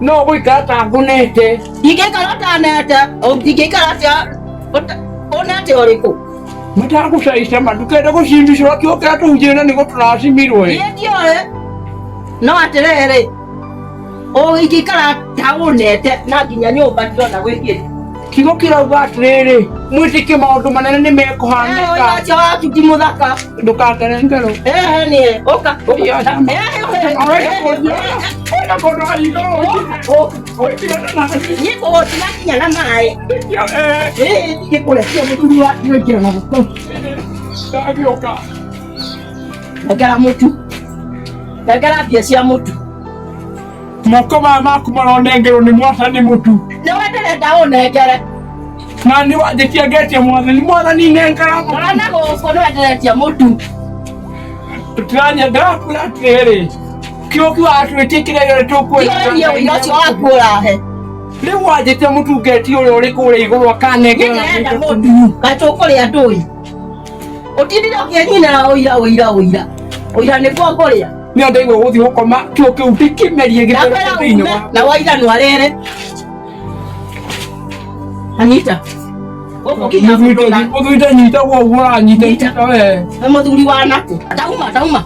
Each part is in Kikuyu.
no guikata ngunite ingĩikara ũtanete ingĩikara atĩa ũta- ũnete ũrĩkũ matagucaica matukende gucimbicirwo kiukira tuhunjire ni guturacimirwo niĩ ndiũĩ no atĩrĩrĩ ũngĩikara taũnete na nginya nyũmba ndirona gwĩkĩte kigo kirauga atirĩrĩ mwĩtĩkie maũndũ manene nĩ mekũhanĩka ũcio waku ti mũthaka ndũkakere ngerũ ehe nĩ ũka nĩkũgũtigakinya na maĩ gĩkũrekia mũthuri wa gĩkĩra na gũkũ ndagĩũka nengera mũtu nengera mbia cia mũtu moko maya maku maronengerwo nĩ mwathani mũtu na we ndĩrenda ũnengere na nĩ wanjĩtia ngetia mwathani mwathani nengera mũtu ona gũkũ nĩ wenderetie mũtu tũtiranya ndakura atĩrĩrĩ kĩũki wa twĩtie kĩrĩa gĩothe tũkwĩrĩrie ũira ũcio waku ũrahe rĩu wanjĩtia mũtu ngetia ũrĩa ũrĩ kũrĩa igũrũ akanengera nĩndĩrenda mũtu na tũkũrĩa ndũi Ũtindire ũkĩnyina ũira ũira ũira. Ũira nĩ kwa kũrĩa. Nĩ andũ igwe gũthiĩ gũkoma kĩo kĩu ndĩkĩmerie gĩtoro Nakwĩra kĩu thĩinĩ ume wa na waira no arere. Anita. Gũkũ kinya mũthuri. ũthũite nyita guo ũguo ũranyita nyita we Nĩ mũthuri wa nakũ. Atauma atauma.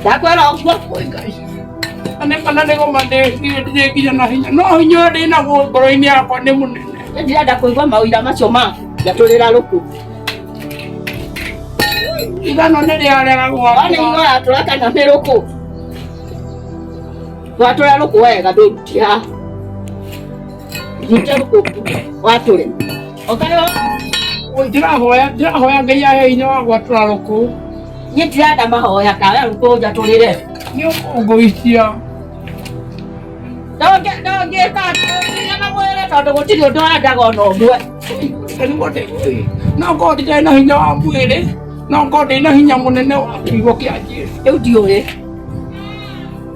ndakwĩra ũguo kwĩ ngai na nĩ kana nĩ gũmathĩtie nginya na hinya no hinya ũyũ ndĩ naguo ngoro-inĩ yakwa nĩ mũnene Nĩ ndirenda kũigua maũira macio ma ngatũrĩra rũkũ igano nĩ rĩarega wani gwakwa ũratũra kana nĩ rũkũ watũra rũkũ wega ndũruti haha watũre okayo ndĩrahoya ndĩrahoya ngai ahe hinya wa gwatũra rũkũ niĩ ndirenda mahoya kawe rũkũ njatũrĩre nĩ ũkũngũicia ndongĩka na mwĩrĩ tondũ gũtirĩ ũndũ wendaga ona ũmwe no ngorwo ndirĩ na hinya wa mwĩrĩ no ngorwo ndĩ na hinya mũnene wa kiugo kĩa Jesu rĩu ndiũrĩ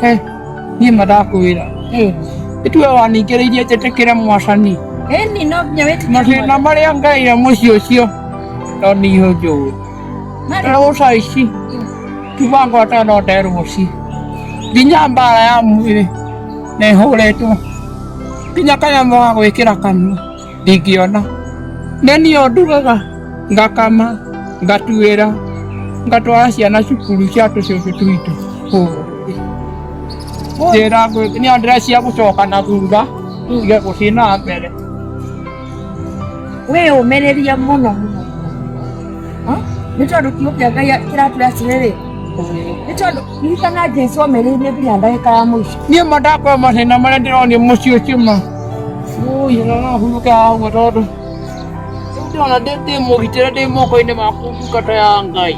He, niĩ madakwĩra ĩtuwe waningĩrĩirie njĩtĩkĩre mwacani Eni no nginya wĩtĩkĩre mathĩna marĩa ngaire mũciĩ ũcio no niĩ njũĩ na gũca ici kiuga ngwata no nderwo ci nginya mbara ya mwĩrĩ nehũrĩtwo nginya kanyamũ ga gwĩkĩra kanua ndingĩona nĩ niĩ ũndugaga ngakama ngatuĩra ngatwara ciana cukuru cia tũcũcũ tuitũ njĩra nĩ andĩra cia gũcoka na thutha nge gũthiĩ na mbere wĩ ũmĩrĩria mũno mũno nĩ tondũ kiugo kĩa ngai kĩratwĩra atĩrĩrĩ nĩ tondũ Ririkana Jesu omereire nginya ndagĩka ya mũico. Niĩ ma ndakwĩra mathĩna marĩa ndĩronia mũciĩ ũcio ma. Ui, no no hurũke haha ũguo tondũ. Rĩu ndĩrona ndĩ ndĩ mũgitĩre ndĩ moko-inĩ maku ndungata ya Ngai.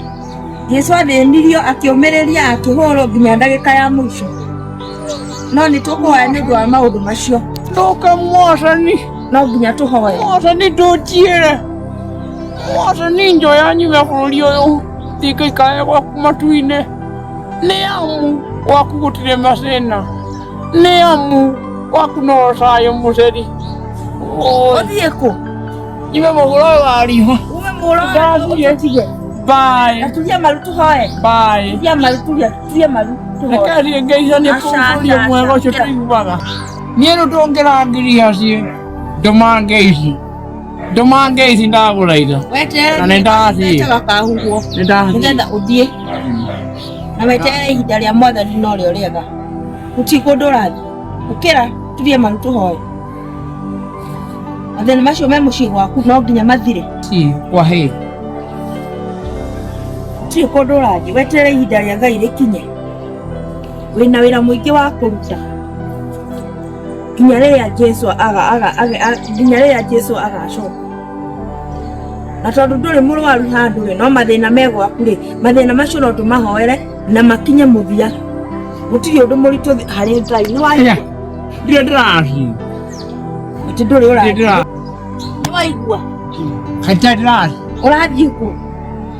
Jesu athĩnirio akĩũmĩrĩria akĩhũrwo nginya ndagĩka ya mũico. No nĩ tũkũhoya nĩ ũndũ wa maũndũ macio. Ndũka mwathani, No nginya tũhoye. mwathani ndũnjiĩre. Mwathani njoya nyume bũrũri ũyũ. ndikaikaya gwaku matu-inĩ nĩ amu gwaku gũtirĩ macĩna nĩ amu gwaku no ũcayo mũceri ũthiĩ kũ ime mũgũra ũyũ wa riho ume mũra Ndathiĩ. ũtũtige baĩ aturia maru tũhoe baĩ turia maru turia turia maru tũhoe rekariĩ ngeica nĩ Aca, kũngũria aca, mwega ũcio aca. tũiguaga niĩ rĩu tũngĩrangiria ciĩ ndũmangeici nduma ngei ici ndagura indo na weterere nĩ ndathiĩ wetaga kahuguo nĩ ndathiĩ nĩgetha ũthiĩ na weterere ihinda rĩa mwathani no rĩo rĩega gũtigwo ndũrathiĩ ũkĩra turie maru tũhoe mathĩna macio me mũciĩ gwaku no nginya mathire Ti, kwa hĩ gũtirĩ kũndũ ũrathiĩ weterere ihinda rĩa ngai rĩkinye wĩna wĩra mũingĩ wa kũruta nginya rĩrĩa jesu aga- aga- aga- a- nginya rĩrĩa jesu agacoka na tondũ ndũrĩ mũrwaru handũ rĩ no mathĩna me gwaku rĩ mathĩna macio no tũmahoere na makinye mũthia gũtirĩ ũndũ mũritũ thĩ- harĩ ngai nĩ wa Aya, ndirĩ ndĩraria atĩ ndũrĩ ndirĩ ũra ndĩraria nĩ waigua kaita ndĩraria ũrathiĩ kuo